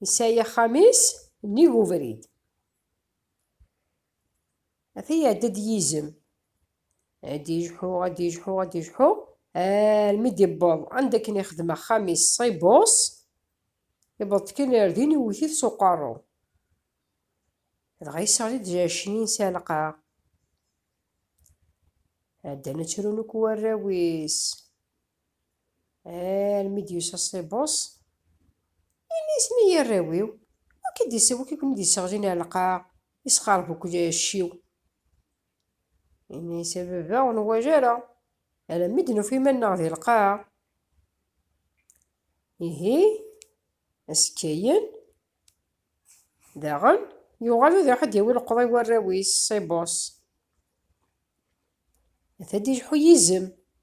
Yesɛi axxam-is nnig ubrid. Ata iɛedda-d yizem. Ad d-yejḥu, ad d-yejḥu, ad d-yejḥu, almi d-iwweḍ anda akken ixdem axxam-is s ibus, iwweḍ-d kan ar din iwwet-it s uqerru. Dɣa yesseɣli-d Jacnin s ɛelqa. Ɛeddan ad ttrun akk warraw-is. Armi d-yusa ṣṣibus, ini-asen ay arraw-iw, wi k-id-iseɣ, wi ken-id-iseɣlin ar lqaɛa, yesxerb akk lɛecc-iw. Ini-as a baba ur nwala ara, alammi d-nufa iman-nneɣ di lqaɛa. Ihi, azekka-yen, daɣen, yuɣal ad iruḥ ad d-yawi leqḍa i warraw-is, ṣṣibus. Ata d-ileḥḥu yizem.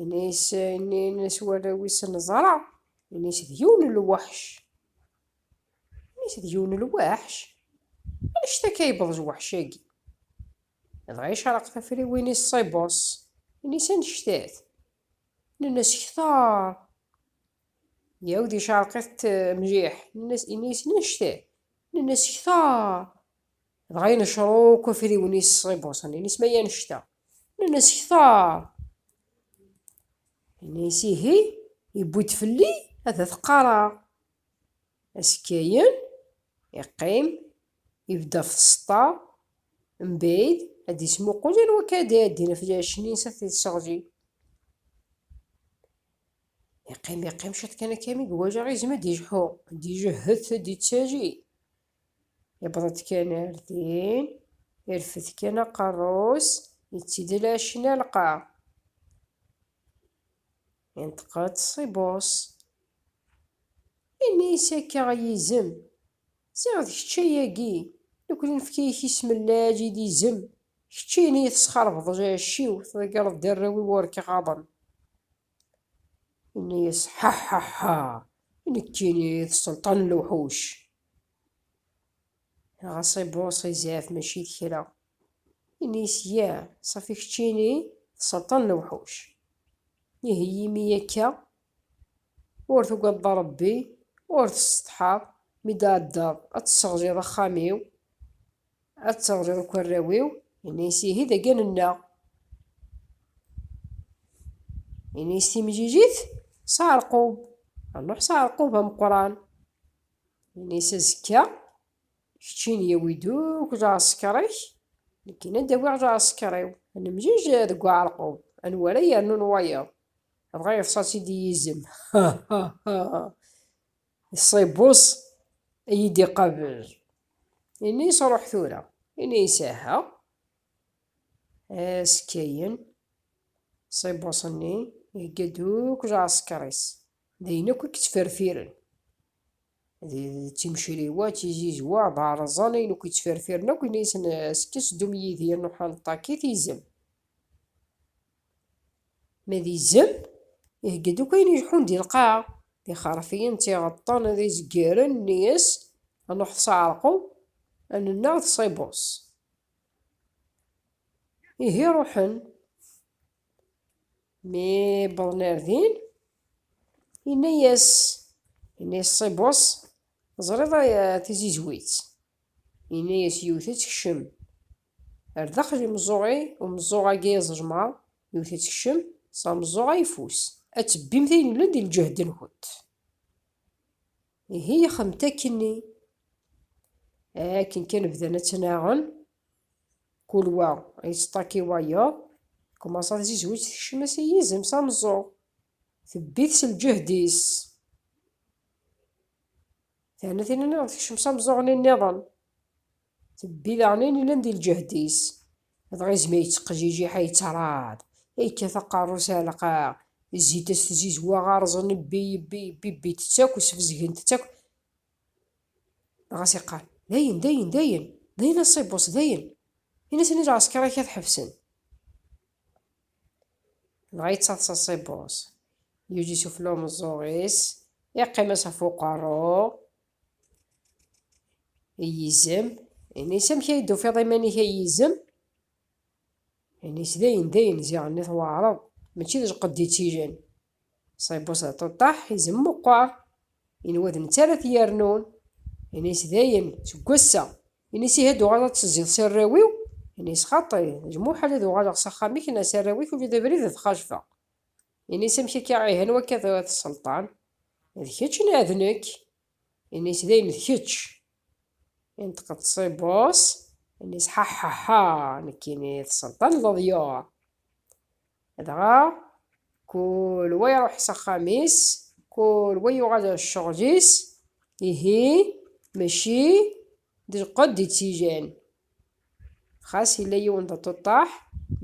Ini-s ini-s warraw-is neẓra Ini-s d yiwen n lweḥc Ini-s d yiwen n lweḥc Anect-a akka yewweḍ lweḥc-agi Dɣa yecreq tafriwin-is ṣibus Ini-s anect-at Nenna-s ktar Yawd yecreq-it mliḥ Ini-s anect-at Nenna-s ktar Dɣa inecṛuq afriwen-is i Buṣan-ines ma yannect-a. Nnan-as, Kteṛ! Yenna-as, Ihi, yewwi-d fell-i ad t-qqareɣ. Asekkayen, iqqim, ibedd ɣef tseṭṭa, mbeɛd, ad d-ismuqul anwa akka ad d-iɛeddin ɣef lɛecc-nni-ines ad t-iseɣzi. Iqqim, iqqim ciṭ kan akka mi iwajaɣ izem ad d-ijḥu, ad d-ijehhet, ad d-ittali. Yewweḍ-d kan ar din, irfed kan aqerru-s, yettidel acinalqa. Yenṭeq-d Ṣibus, yenna-yas akka i yizem, Ziɣ d kečč ay agi, nekkni nefka-ak isem n Laɛli d izem, keččini tesxerbdeḍ lɛecc-iw, tḍeggreḍ-d arraw-iw ur k-ɣaḍen. Yenna-yas, Ḥaḥaḥa! Nekkini d sselṭan n lewḥuc! Ɣas ibuṣ izɛef mačči d kra. Yenna-yas, Ya, safi keččini d sselṭan n lewḥuc. Ihi imi akka ur tugadeḍ a Rebbi, ur tessetḥaḍ mi d-tɛeddaḍ ad tesseɣliḍ axxam-iw? Ad teɣliḍ akk arraw-iw. Yenna-yas, Ihi dagi a nennaɣ. Yenna-yas timlilit s aɛerqub, rnuḥ s aɛerqub ameqqran. Yenna-yas, Azekka, kečči n yawi-d akk lɛesker-ik, nekkini ad d-awiɣ lɛesker-iw, ad nemlil deg uɛerqub, anwa ara yernun wayeḍ, dɣa yeḍsa-tt-id i yizem. Ha! Ha! Ha! Ṣṣibus iyi-d-iqabel. Ini-as ruḥ tura. Ini-as aha. As kkayen. Ṣṣibus-nni ihegga-d akk lɛesker-is. D ayen akk i yettferfiren. D timcriwa, d tizizwa, d areẓẓan ayen akk yettferfiren akk ini-asen as kkes ddum yid-i a Nuḥal Ṭakit izem. Ma d izem, ihegga-d akk ayen ileḥḥun di lqaɛa, d ixerfiyen, d tiɣeṭṭen, d izeggiren, nni-as, a Nuḥ tseɛreqeḍ, a nennaɣ d Ṣibus. Ihi ruḥen. Mi wwḍen ar din, inna-yas, inna-yas Ṣibus, teẓriḍ tizizwit? Inna-yas yiwet ad tekcem, Ar daxel imeẓẓuɣ-i, umeẓẓuɣ-agi iẓelmeɣ, yewwet-itt kcem, s ameẓẓuɣ ayeffus. Ad tebbimt ayen yellan di lǧehd-nkent. Ihi xemt akkenni. Akken kan bdan ad ttnaɣen, kul wa yettṭaki wayeḍ, tkumaṣa tzizwit tekcem-as i yizem s ameẓẓuɣ, tebbi-t s lǧehd-is. Terna tin-nniḍen tekcem s ameẓẓuɣ-nni nniḍen, Tebbi daɣen i llan di lǧehd-is, dɣa izmi yettqejjij iḥa yettaraḍ, yekkat aqerru s ɛelqaɣ, zzit as tzizwa ɣerzen ibbi ibbi ibbi ibbit-tt akk sbezgent-tt akk, dɣa as iqqar, dayen dayen dayen dayen a Ṣibus dayen, in-asen i lɛesker-ik ad ḥebsen. Dɣa yettaḍsa Ṣibus, yuǧǧi s ufella umeẓẓuɣ-is, yeqqim-as ɣef uqerru, I yizem, ini-s amek ay d-tufiḍ iman-ik ay yizem? Ini-s dayen dayen ziɣen i tweɛreḍ, mačči d lqedd i tt-ilan. Ṣṣib useɛṭuṭṭaḥ, izem meqqer, inwa d netta ara t-yernun. Ini-s dayen, seg wass-a, ini-s ihi ad d-uɣal ad teẓẓiḍ s arraw-iw? Ini-s xaṭi, d lmuḥal ad uɣaleɣ s axxam-ik neɣ s arraw-ik ula d abrid ad t-xajfeɣ. Ini-s amek akka ihi anwa akka tura tesselṭan? D kečč neɣ d nekk? Ini-s dayem d kečč. Inṭeq ţṣibus, ini-s ḥaḥaḥa nekkini tesselṭan leḍyur. Dɣa kul wa iṛuḥ s axxam-is, kul wa yuɣal ar ccɣel-is, ihi mačči d lqedd i ţ-igan, Xas yella yiwen d aṭuṭṭaḥ,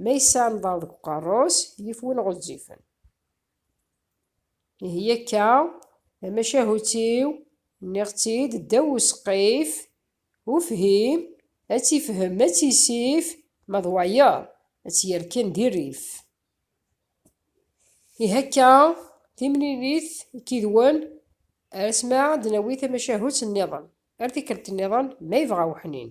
ma yesɛa nḍer deg uqerru-s, yif win ɣezzifen. Ihi akka, tamacahut-iw, nniɣ-tt-id ddaw useqqif, ufhim, ad tt-ifhem, ad tt-isif, ma d wayeḍ, ad tt-yerken di rrif. Ihi akka, timlilit i k-idwen, ar asmi ad d-nawi tamacahut nniḍen. Ar tikkelt nniḍen ma yebɣa weḥnin.